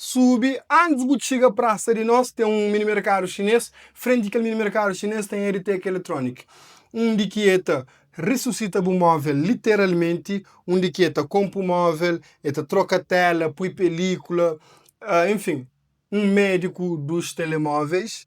Subi, Antis bu txiga prasa di nos, ten un minimerkadu xinês. Frenti di kel minimerkadu xinês ten EdTech Electronic, undi ki e ta resusita bu móvel literalmenti, undi ki e ta konpu móvel, e ta troka téla, pui pelíkula, enfim, un médiku dus telemóveis.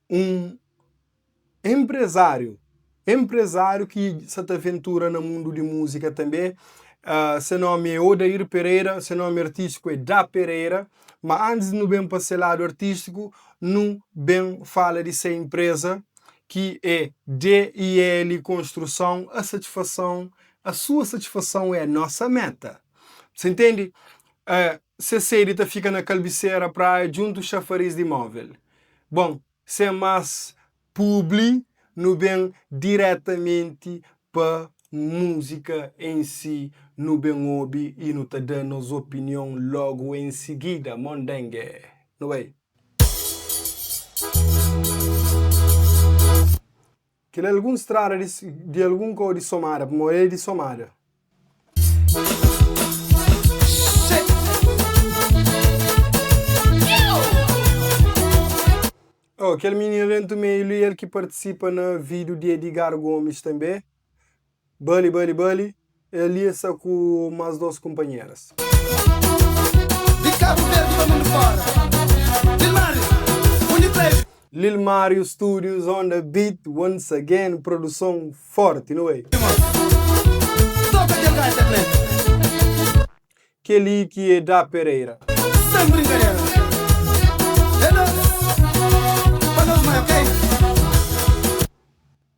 Un enprezáriu, enprezáriu ki sa ta ventura na mundu di múzika tanbê. Ah, se nómi é Odair Pereira, se nómi artístiku é Da Pereira. Ma antis di nu ben pa se ladu artístiku, nu ben fala di se enpreza ki é DIL Konstruson. A satifason, a sua satifason é nosa méta. Ses intende? Ah, se sedi ta fika na Kalbisera, Praia, djuntu Xafariz di Móvel. Bon, sen más públi, nu ben diretamenti pa múzika en si, nu ben obi i nu ta da nos opinion lógu en sigida. Mondenge! Nu bai! Kel algun strada di di algun kau di somada pa mo é di somada. Oh, kel minina dentu meilu i el ki partisipa na video di Edgar Gomes tanbê. Bali, bali, bali, el ia sa ku mas dos kunpanheras. Di Kabu Verdi pa mundu fora Lil Mario, undi pra el. Lil Mario Studios on the beat once again Produson forti no way. Toka kel gaita plena. Keli ki e Da Pereira. Sem brincadera. Hello. Pa nos mai ok.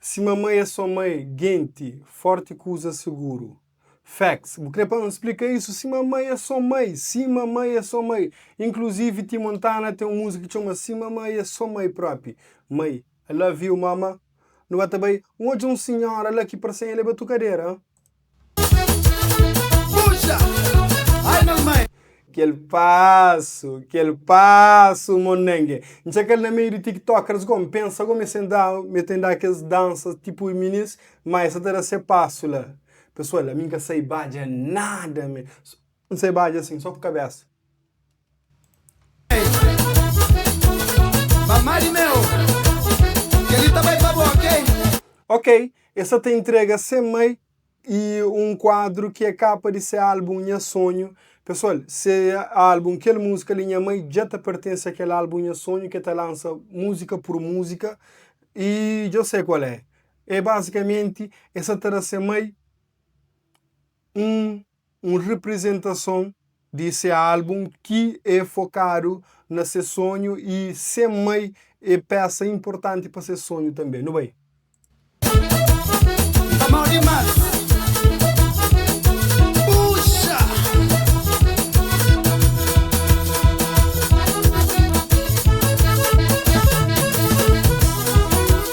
Si mamai é so mai genti forti kuza seguru. Facts, bu kre pa N splika isu? Si mamai é so mai, si mamai é so mai. Inclusive ti Montana ten un muzik ki txoma Si mamai é so mai propi, mai, I love you mama. Nu ba ta bai, N odja un sinhora la ki parsen el é ba tu kadera. Kel pasu, kel pasu mondenge N txa kel na meiu di tiktokers Gó N pensa gó mi sen da mi ten da kes dansa tipu i minis Má e sa ta da se pasu la Pesoal ami N ka sai badja nada mi N sai ba dja sin, so ku kabesa. Ok, el sa ta intrega Sem Mai y un kuadru ki é kapa di se álbum Nha Sonhu. Pesoal, se álbum Kel Múzika Li Nha Mai dja ta pertense a kel álbum Nha Sonhu, ki el ta lansa múzika pur múzika. Y dja-u sai kual é. É bazikamenti el sa ta da se mai 1 un reprizentason di se álbum ki é fokadu na se sonhu y se mai é pésa inportanti pa ses sonhu tanbe. Nu bai. Tá mau demais Puxa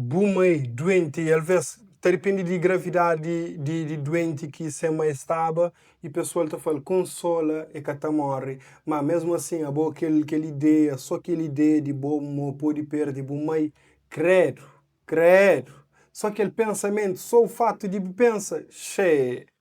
Bu mai duenti e alvês ta dipindi di gravidadi di duenti ki se mai staba i pesoal ta fala, Konsola, e ka ta móre. Má, mésmu asin, abo kel ideia, sô kel ideia di bo mo pode perde bu mai, krédu, krédu! Sô kel pensamentu, sô fatu di bu pensa, xee!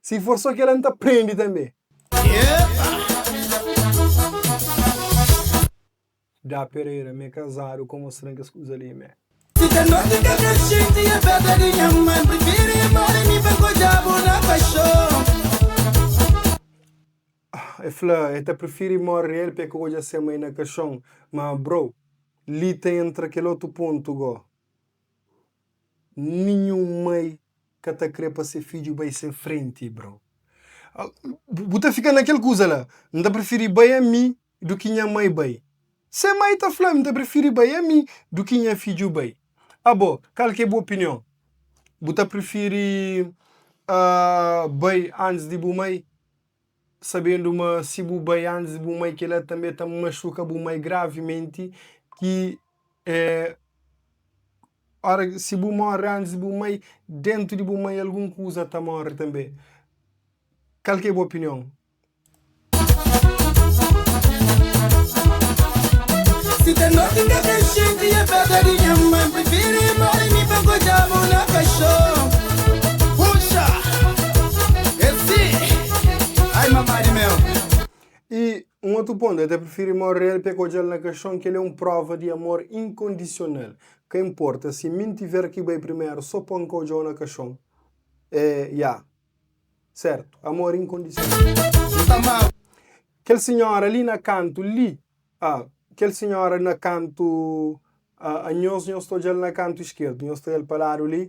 Si for só kel-la, N ta prende tanbê. Dá Pereira, M é kazadu kó mostra-m kes kuza li, M é. Si ta noti ka ta xinti afeta di nha mãe N prifiri inbora mi pa ku diabu na paxon. El fla el ta prifiri móre riel p'e ka odja se mai na kaxon. Má bro, li ta entra kel otu pontu gó. Ninhun mai ka ta kre pa se fidju bai sen frenti, bro. Bu ta fika na kel kuza la, N ta prifiri bai ami du ki nha mai bai. Se mai ta fla, N ta prifiri bai ami du ki nha fidju bai. Abo, kal ki é bu opinion? Bu ta prifiri bai antis di bu mai? sabendu ma si bu bai antis di bu mai, kel-la tanbê ta maxuka bu mai gravimenti, ki é óras, si bu móre antis di bu mai, déntu di bu mai algun kuza ta móre tanbê. Kal ki é bu opinion? I un otu pontu, el ta prifiri móre el p'e ka odja-l na kaxon, kel-li é un próva di amor inkondisional. Ka inporta si mi N tiver ki bai primeru sô pa N ka odja-u na kaxon. Eh, ya. Sértu, amor inkondisional. Kel sinhóra li na kantu li, ah, kel sinhóra na kantu, ah, anhos, nhos ta odja-l na kantu iskerdu, nhos ta da-l pa ladu li.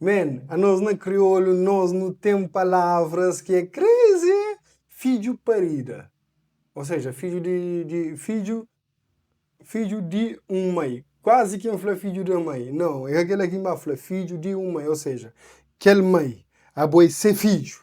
Man, anos na kriolu nos nu ten palavras ki é crazy é fidju parida. Ou seja, fidju di di fidju fidju di un mai. Kuazi ki N fla fidju di un mai. Nau, é ka kel-la ki N ba fla. Fidju di un mai. Ou seja, kel mai abo é se fidju.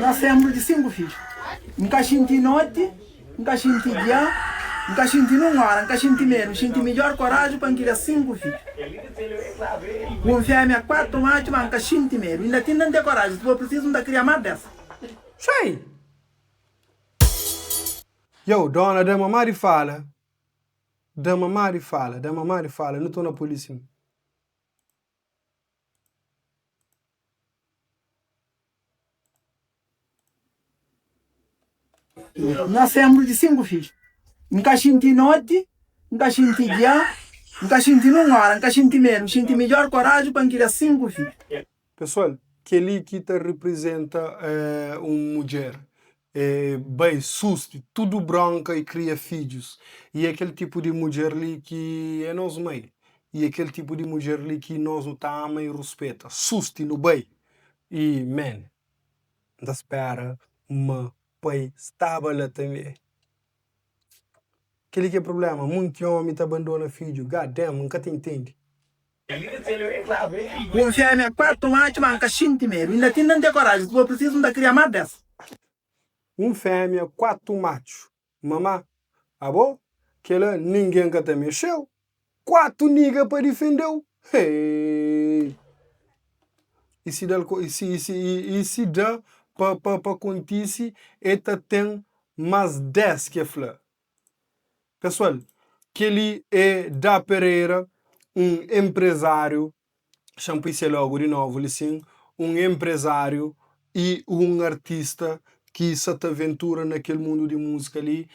Na senpru di sinku fidju. N ka xinti noti, N ka xinti dia, N ka xinti nun ora, N ka xinti medu, N xinti midjor koraji pa N kria sinku fidju. Ku un femia, kuatu matxu, ma N ka xinti medu, inda tinda N ten koraji, si for prisizu N ta kria ma bes. Txoi! Yow dona da mama di fala Da mama di fala Da mama di fala Nu tona polisi mi. N ka senbru di sinku fidju N ka xinti noti, N ka xinti dia N ka xinti nin un ora N ka xinti medu N xinti midjor koraji pa N kria sinku fidju. Pesoal, kel-li ki ta reprizenta un mudjer E bai susti tudu bronka i kria fidjus. I é kel tipu di mudjer li ki é nos mai. I é kel tipu di mudjer li ki nos nu ta ama i ruspeta. Susti nu bai. I man. N ta spera ma pai staba la tanbe. Kel-li ki é prubléma. Munti ómi ta bandona fidju. God damn, N ka ta intendi. Kunfia mi é kuartu matxu ma N ka xinti medu Inda tinda N ten koraji Si for prisizu N ta kria má bes Kunfia mi é kuartu matxu ma ma Abo kela ningen ka ta mexeu Kuartu niga pa difendeu Heeeii I si dal ko i si i si i si da pa pa pa kontisi E ta ten más des ke fla Pesoal, kel-li é Da Pereira, un enprezáriu, xa N pui se lógu di novu li sin, un enprezáriu i un artista ki sa ta ventura na kel mundu di múzika li.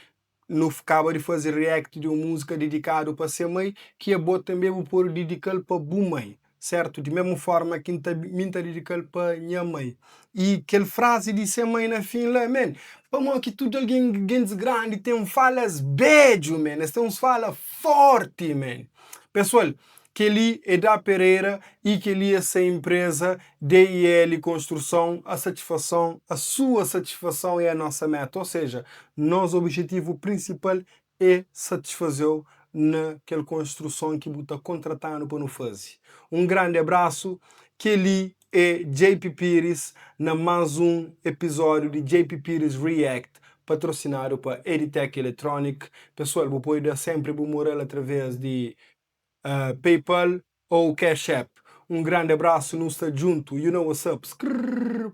Nu kaba di faze react di un múzika didikádu pa se mai, ki é Bo Tanbê Bu Pode Didika-l pa Bu Mai. Sértu, di mésmu fórma ki N ta bi, mi N ta dedika-l pa nha mai. I kel frazi di se mai na fin la, men, pamodi ki tudu algen, gentis grandi, ten falas bédju, men, es ten uns fala fórti, men. Pesoal, kel-li é Da Pereira i kel-li é se inpreza DIL Konstruson, a satifason, a sua satifason é a nosa méta, o seja, nos obijetivu prinsipal E satisfaze-u na kel konstruson ki bu ta kontrata-nu pa nu faze. Un grandi abrasu, kel-li é JP Pires na más un epizódiu di JP Pires React, patrosinadu pa Editec Electronic. Pesoal, bu pode da sénpri bu moral através di PayPal ou Cash App. Un grandi abrasu, nu sta djuntu, you know what's up, skrrrr.